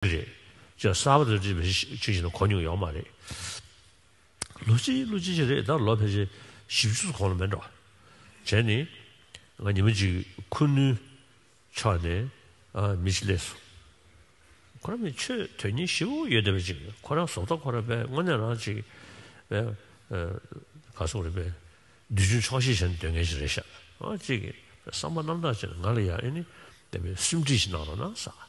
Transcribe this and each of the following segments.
རེད། ཅེས་གསར་པ་དེ་འདྲ་མི་ཤེས་ཤེས་ནས་གོ་མྱོང་ཡོད་མ་རེད། ལོ་ཅི་ལོ་ཅི་ཞིག་རེད་ད་ལོ་ཕལ་ཆེར་བཞི་བཅུ་ཚོ་གོང་ལ་མེད་འགྲོ། བྱས་ནས། ང་ཉི་མ་གཅིག་ཁུ་ནུའི་ཕྱོགས་ནས་མི་ཞིག་སླེབས་སོང། ཁོ་རང་མི་ཆོས་དོན་གཉེར་ཞེ་བོ་ཡོད་བསྡད་པ་ཅིག་ཁོ་རང་བཟོ་ལྟ་ཁོ་རང་པས་དངོས་གནས་རང་ཅིག་ག་སོང་རེད་པས། འདི་ཆུ་འཁྱོག་ཤེས་བྱས་ནས་སྡོད་མཁན་ཞིག་རེད་ཤག་ཅེས་བསམ་པ་རྣམ་དག་བྱས་ནས་ང་ལ་ཡང་ཨེ་ནི་བསྟན་པའི་སེམས་ཁྲིད་ཞིག་གནང་རོགས་གནང་ཟེར།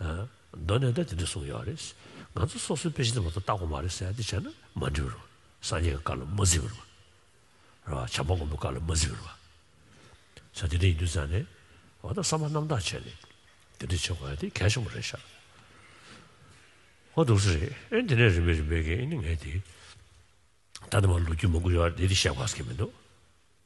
མདོ་ནས་ད་དེ་འདྲ་གསུངས་ཡོད་རེད། ང་ཚོ་སོ་སོའི་དཔེ་ཆ་དེ་མ་ཏོག་བརྟག་དགོས་མ་རེད་ཟེར་ཡ་དེ་བྱས་ན་མ་འགྲིག་རོ། སངས་རྒྱས་ཀྱི་བཀའ་ལ་མ་གཟིགས་པར། ར་བ། བྱམས་པ་མགོན་པོའི་བཀའ་ལ་མ་གཟིགས་པར། ས་དེ་འདྲ་ཡིན་དུས་ཙང་ནས། འོ་ད་བསམ་པ་རྣམ་དག་བྱས་ནས། དེ་འདྲ་བྱེད་དགོས་ཡ་དེ་གལ་ཆེན་པོ་རེད་ཤག། ཨོ་སྡུག་ས་རེད་ཨེ་འདི་ནས་རིམ་པས་རིམ་པས་ཀྱིས་ཨེ་ནི་ངས་དེ། ད་དེ་མ་ལོ་རྒྱུས་མ་འགོ་ཡོད་རེད་དེ་བཤད་དགོས་ཀྱི་མི་འདུག།